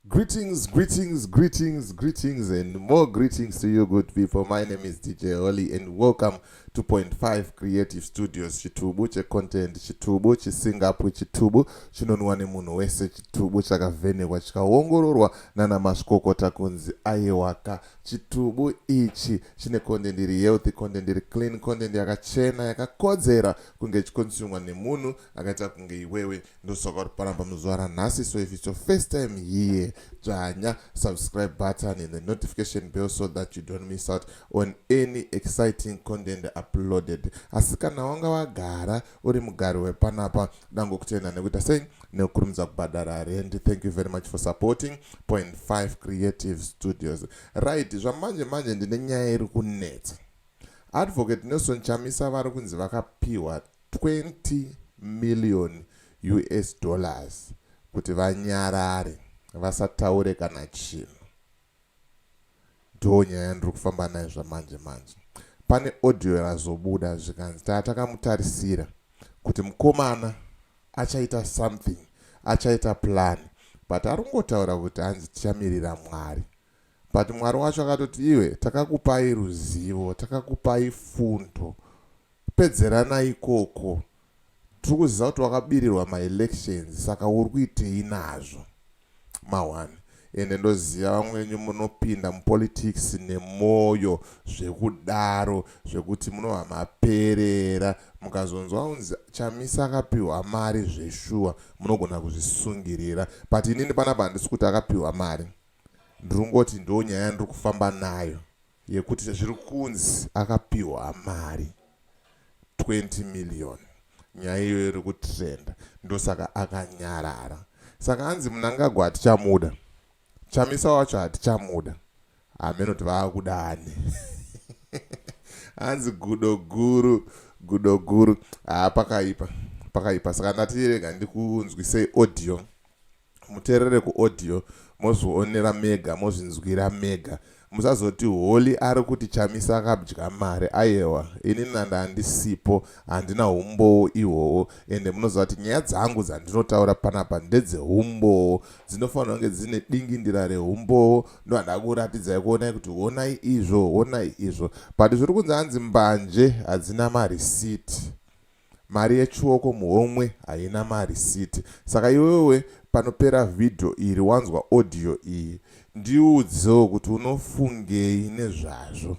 Greetings, greetings, greetings, greetings, and more greetings to you, good people. My name is DJ Holly, and welcome to Point Five Creative Studios. Chitubu che content, chitubu chisingapu, chitubu chinonwa nemunhu wese, chitubu chakavhenekwa chikaongororwa nana mazvikokota kunzi aiwaka. Chitubu ichi chine content iri healthy, content iri clean, content yakachena, yakakodzera kunge ichikonsumwa nemunhu akaita kunge iwewe ndosaka uri paramba muzuva ranhasi so if its your first time here dzvanya subscribe button and the notification bell so that you don't miss out on any exciting content uploaded asi kana wanga wagara uri mugari wepanapa dango kutenda nekuita sei nekukurumidza kubhadhara rendi thank you very much for supporting point 5 creative studios right zvamanje manje ndine nyaya iri kunetsa advocate nelson chamisa vari kunzi vakapiwa 20 million us dollars kuti vanyarare vasataure kana chinhu ndonyaya yandiri kufamba nayo zvamanje manje pane audio razobuda zvikanzi taa takamutarisira kuti mukomana achaita something achaita plan but ari kungotaura kuti hanzi tichamirira mwari but mwari wacho akatoti iwe takakupai ruzivo takakupai fundo Pedzerana ikoko. Tiri kuziva kuti wakabirirwa ma elections saka uri kuitei nazvo. Ma one. Ende ndoziva vamwe venyu munopinda mu politics nemoyo zvekudaro zvekuti munobva maperera. Mukazonzwa kunzi Chamisa akapihwa mari zveshuwa munogona kuzvisungirira. But inini panapa handisi kuti akapihwa mari. Ndiri kungoti ndonyaya yandiri kufamba nayo. yekuti zviri kunzi akapiwa mari 20 million nyaya iyoyo iri kutrenda ndosaka akanyarara saka hanzi munangagwa hatichamuda chamisa wacho hatichamuda hameno kuti vaakuda ani hanzi gudo guru gudo guru haa pakaipa pakaipa saka ndatirega ndikunzwisei audio muterere kuaudio mozvionera mega mozvinzwira mega musazoti holy ari kuti chamisa akabdya mari ayewa ini nanda handisipo handina humbowo ihwowo ende munoziva kuti nyaya dzangu dzandinotaura panapa ndedzehumbowo dzinofanira kunge dzine dingindira rehumbowo ndohanda kuratidzai kuonai kuti honai izvo honai izvo but zviri kunzi hanzi mbanje hadzina marisiti Mari yechioko muhomwe haina marisiti saka iwewe panopera video iri wanzwa audio iyi ndiudzewo kuti unofungei nezvazvo.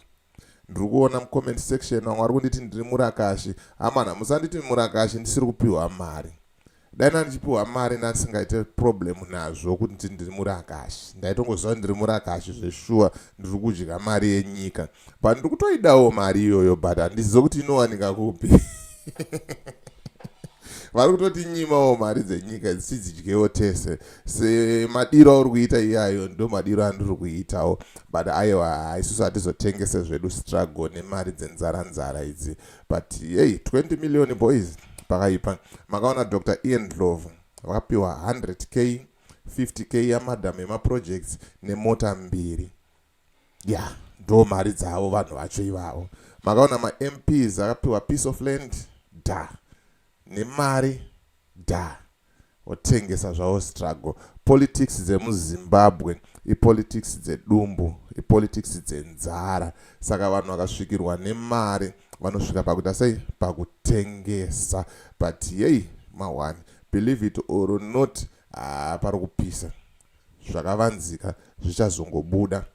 Ndiri kuona mucomment section vamwe vari kunditi ndiri murakashi. Hamana musanditi murakashi ndisiri kupihwa mari. dai nandichipiwa mari nandisingaite problem nazvo kuti ndiri murakashi ndaitongoziva ndiri murakashi zveshuwa ndiri kudya mari yenyika but ndiri kutoidawo mari iyoyo but handizive kuti inowanika kupi vari kutoti nyimawo mari dzenyika dzichidzidyewo tese semadiro auri kuita iyayo ndo madiro andiri kuitawo but aiwa isusu hatizotengese zvedu struggle nemari dzenzara nzara idzi but yei 20 million boys pakaipa makaona dr ian dlovo vakapiwa 100 k 50 k yamadam yemaprojects nemota mbiri ya yeah, ndo mari dzavo vanhu vacho ivavo makaona mamps akapiwa piece of land da nemari da Votengesa zvavo struggle. Politics dzemuZimbabwe ipolitics dzedumbu, ipolitics dzenzara. Saka vanhu vakasvikirwa nemari vanosvika pakuita sei? Pakutengesa. But yei mahwani, believe it or not, haa pari kupisa. zvakavanzika zvichazongobuda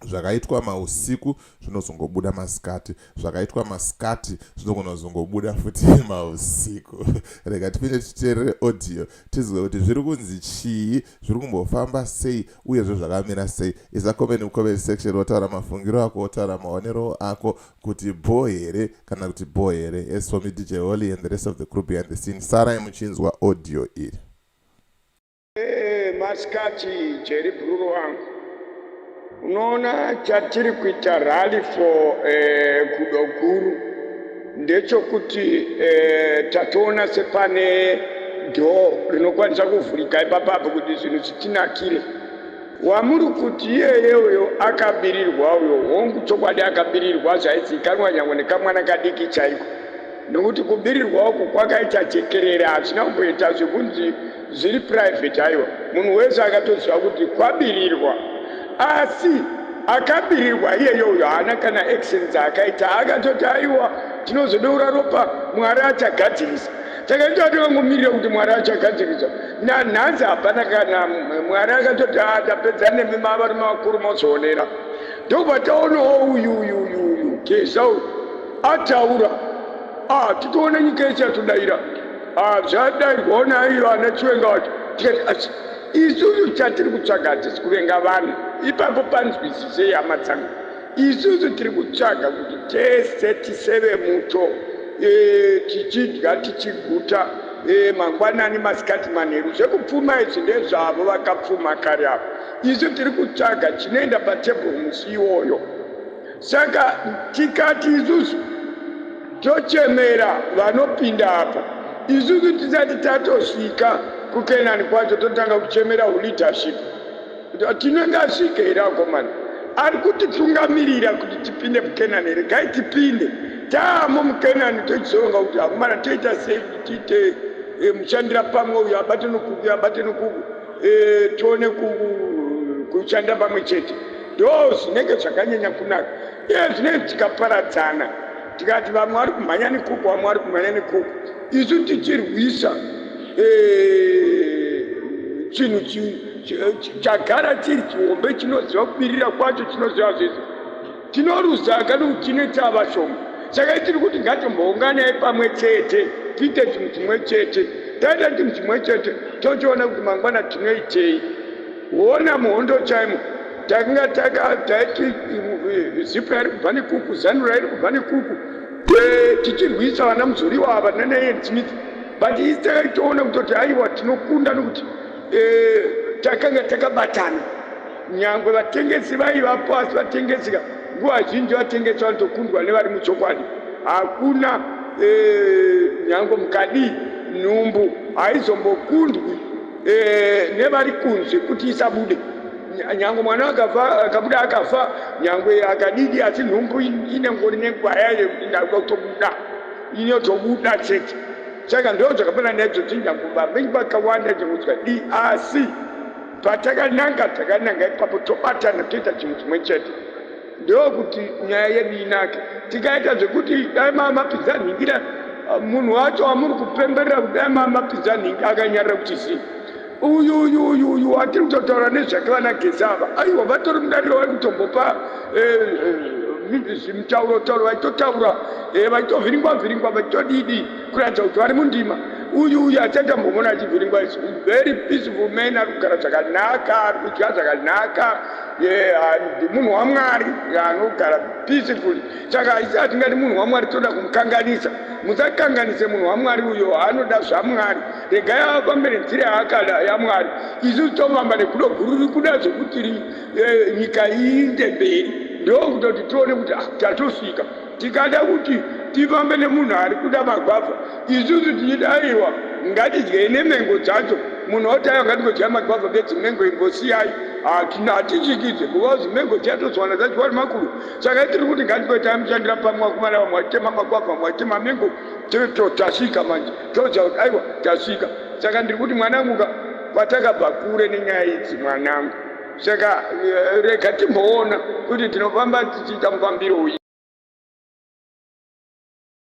zvakaitwa mausiku zvinozongobuda masikati zvakaitwa masikati zvinogona kuzongobuda futi mausiku rega tipinde titeerere audio tizive kuti zviri kunzi chii zviri kumbofamba sei uyezve zvakamira sei isa komeni mukomeni section wotaura mafungiro ako wotaura maonero ako kuti bho here kana kuti bho here as for me dj holy and the rest of the group behind the scene sarai muchinzwa audio iri Hey, masikati Jerry Bruru wangu, unoona chatiri kuita rally for eh, kudo guru ndechokuti eh, tatoona sepane dhoo rinokwanisa kuvhurika ipapa apo kuti zvinhu zvitinakire. Wamuri kuti iyeye uyo akabirirwa uyo, hongu chokwadi akabirirwa zvaizikanwa nyangwe nekamwana kadiki chaiko, nokuti kubirirwa uku kwakaita jekerere, hazvina kumboita zvekunzi zviri private haiwa munhu wese akatoziva kuti kwabirirwa asi akabirirwa iyeyo uyo haana kana action dzaakaita akatoti aiwa tinozodeura ropa mwari achagadzirisa takaita tikangomirira kuti mwari achagadzirisa nanhanzi hapana kana mwari akatoti atapedza nemi mavari mavakuru mozoonera ndobva taonawo uyu uyu uyu uyu geza uyu ataura ah, titoona nyika ichatodaira Ah, zvadai hona iyo ana chiwenga wacho tikati asi isusu chatiri kutsvaga hatisi kuvenga vanhu ipapo panzwisisei hama dzangu isusu tiri kutsvaga kuti tese tiseve muto e, tichidya tichiguta e, mangwanani masikati manheru zvekupfuma izvi ndezvavo vakapfuma kare avo isu tiri kutsvaga chinoenda patebhuru musi iwoyo saka tikati isusu tochemera vanopinda apa isusu tisati tatosvika kukenani kwacho totanga kuchemera uleadership tinenge asvike here akomana ari kutitungamirira kuti tipinde mukenani here gai tipinde taamo mukenani tochizoronga kuti akomana toita sei kuti tiite eh, mushandira pamwe uyo abate nokuku abate nokuku eh, tione kushandira pamwe chete ndo zvinenge zvakanyanya kunaka Dai zvinenge tikaparadzana tikati vamwe vari kumhanya nekuku vamwe vari kumhanya nekuku isu tichirwisa eh, chinhu chagara chiri chihombe chinoziva kubirira kwacho chinoziva zvese tinoruza kani kuti tine tava shoma saka itiri kuti ngatimbounganai pamwe chete tiite chinhu chimwe chete taita chinhu chimwe chete tochiona kuti mangwana tinoitei Kuona muhondo chaimo tanga taka taiti zipa iri kubva nekuku zanura iri kubva nekuku tichirwisa vana muzoriwa ava nanaenzi midzi but isi takaitoona kutoti aiwa tinokunda nokuti eh, takanga takabatana nyangwe vatengesi vaiva pasi vatengesika nguva zhinji vatengesi vanotokundwa nevari muchokwadi hakuna eh, nyangwe mukadii nhumbu haizombokundwi e, nevari kunze kuti isabude nyangwe mwana akafa akabuda akafa nyangwe akadidi asi nhumbu inengori nenguva yayo kuti ndakuda kutobuda inotobuda chete saka ndo zvakafana naidzodzi nyangwe vamengi vakawanda nyangudzwa di asi patakananga takananga ipapo tobatana toita chinhu chimwe chete ndokuti nyaya yedu inake tikaita zvekuti dai mamapidza nhingira ah, munhu wacho amuri kupemberera kuti dai mamapidza nhingi akanyarira kuti zii uyu uyu uyu uyu watiri kutotaura nezvake vana gesava aiwa vatori mudariro vari kutombopa eh, eh, zvimutauro tauro vaitotaura eh, vaitovhiringwa vhiringwa vaitodidi kuratidza kuti vari mundima uyu uyu achaita mbomona achivhiringwa very peaceful man ari kugara zvakanaka ari kudya zvakanaka munhu wamwari anogara peacefully saka haisi atingati munhu wamwari toda kumukanganisa musakanganise munhu wamwari uyo anoda zvamwari regai afambe nenzira yaakada yamwari isusu tofamba nekudo guru rikuda zvekuti eh, nyika iinde mberi ndokutoti tione kuti ah, tatosvika Tikada kuti tifambe nemunhu ari kuda magwavha, isusu tichida aiwa ngatidyei nemengo dzacho. Munhu oti aiwa ngatingodyai magwavha bedzi mengo imbosiyai. Hatina hatityikidze kuvawo zimengo dziya tozowana dzadyiwa nemakuru. Saka itiri kuti ngatingoitai mushandira pamwe vakomana vamwe vachitema magwavha vamwe vachitema mengo tiri to tasvika manje toziva kuti aiwa tasvika. Saka ndiri kuti mwanangu ka kwatakabva kure nenyaya idzi mwanangu. saka eh, rega timboona kuti tinofamba tichiita mufambiro uyi